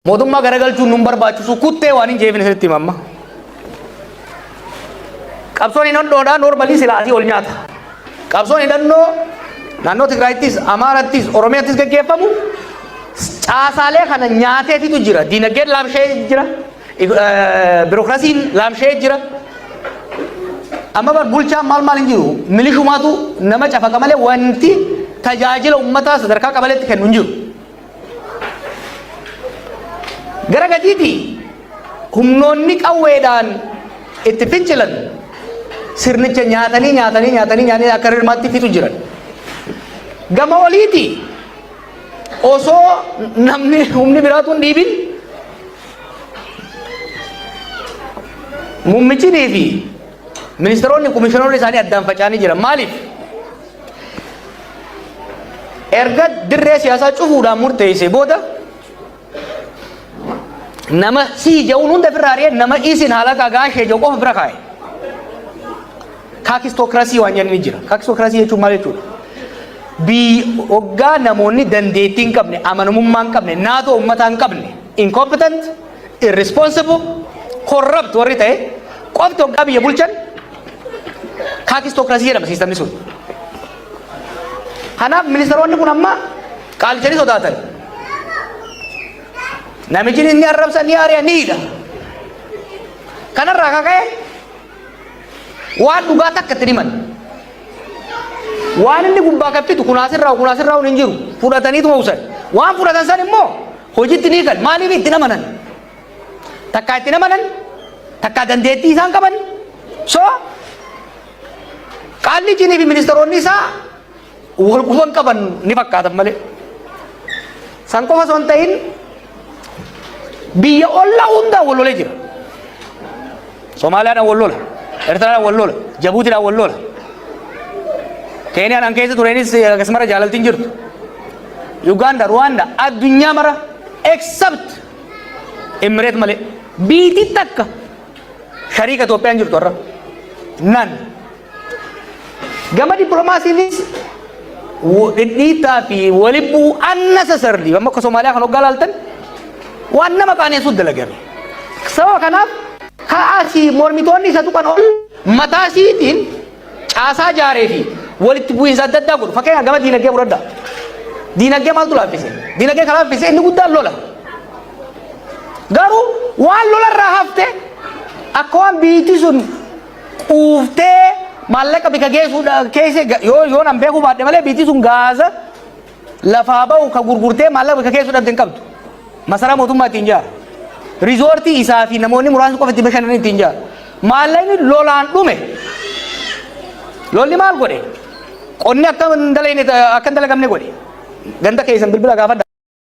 Mootummaa garagalchuun nun barbaachisu kuttee waan hin jeefin isinitti hima amma. Qabsoon hidhannoodhaa noormalii silaa asii ol nyaata. Qabsoon hidhannoo naannoo Tigraayittis, Amaarattis, Oromiyaattis gaggeeffamu caasaalee kana nyaateetitu jira. Diinagdeen laamshee jira. Birookiraasiin laamshee jira. Amma bar bulchaan maal maal hin jiru. Milishumaatu nama cafaqa malee wanti tajaajila uummataa sadarkaa qabaleetti kennu hin jiru. Gara gadiiti humnoonni qawweedhaan itti fincilan sirnicha nyaatanii nyaatanii nyaatanii nyaatanii akka hirmaatti fixu jiran. Gama oliiti osoo namni humni biraatu hin dhiibin mummichinii fi ministeeronni komishineeronni isaanii addaan faca'anii jiran maaliif? erga dirree siyaasaa cufuudhaan murteessee booda nama sii ja'uun hunda ofirraa ari'ee nama isin haala gagaa ishee ja'u qofa bira kaa'e. Kaakistokirasii waan jenni jira. Kaakistokirasii jechuun maal jechuudha? Biyyi hoggaa namoonni dandeettii hin qabne, amanamummaa hin qabne, naatoo uummataa hin qabne, incompetent, irresponsible, corrupt warri ta'e qofti hoggaa biyya bulchan Kaakistookiraasii jedhama siistamni sun. Kanaaf ministeeronni kun amma qaalichanii sodaatan. Namichi inni arrabsa ni aari'a ni hidha. Kanarraa kaka'e waan dhugaa takka itti himan. Waan inni gubbaa kaffitu kunaasirraa kunaasirraa hin jiru fudhataniitu hawsan. Waan fudhatan san immoo hojiitti ni kan maaliif itti namanan. takkaa itti namanan takkaa dandeettii isaan qaban so qaalli jinii fi ministeeronni isaa wal quban qaban ni fakkaatan malee san qofa osoo hin ta'in biyya ollaa hundaan wal lolee jira somaaliyaadhaan wal lola ertiraadhaan wal lola jabuutiidhaan wal lola keeniyaan an keessa tureenis akkasumara jaalaltiin jirtu Uganda, Rwanda, addunyaa mara except Emmireet malee biitii takka shariika Itoophiyaan jirtu har'a nan gama dippiloomaasiinis dhidhiittaa fi walibbuu unnecessarily amma akka Somaaliyaa kan hoggaa laaltan waan nama qaaneessuut dalagame. Sababa kanaaf kaasii mormitoonni isa tuqan ol mataa isiitiin caasaa jaaree fi walitti bu'iinsa adda addaa godhu. Fakkeenyaaf gama diinagdee fudhadhaa. Diinagdee maaltu laaffise? Diinagdee kan laaffise inni guddaan lola. Garuu waan lola irraa hafte akka waan biitti sun quuftee maallaqa bika geessuudha keessa yoo yoo nan beekuu baadhe malee biitti sun gaaza lafaa bahu ka gurgurtee maallaqa bakka keessu dhabde hin qabdu. Masaraa mootummaa ittiin jaara. Rizoortii isaa fi namoonni muraasni qofa itti bashannan ittiin jaara. Maallaqni lolaan dhume. Lolli maal godhe? Qonni akka hin dalagne- akka hin dalagamne godhe. Ganda keessan bilbila gaafadha.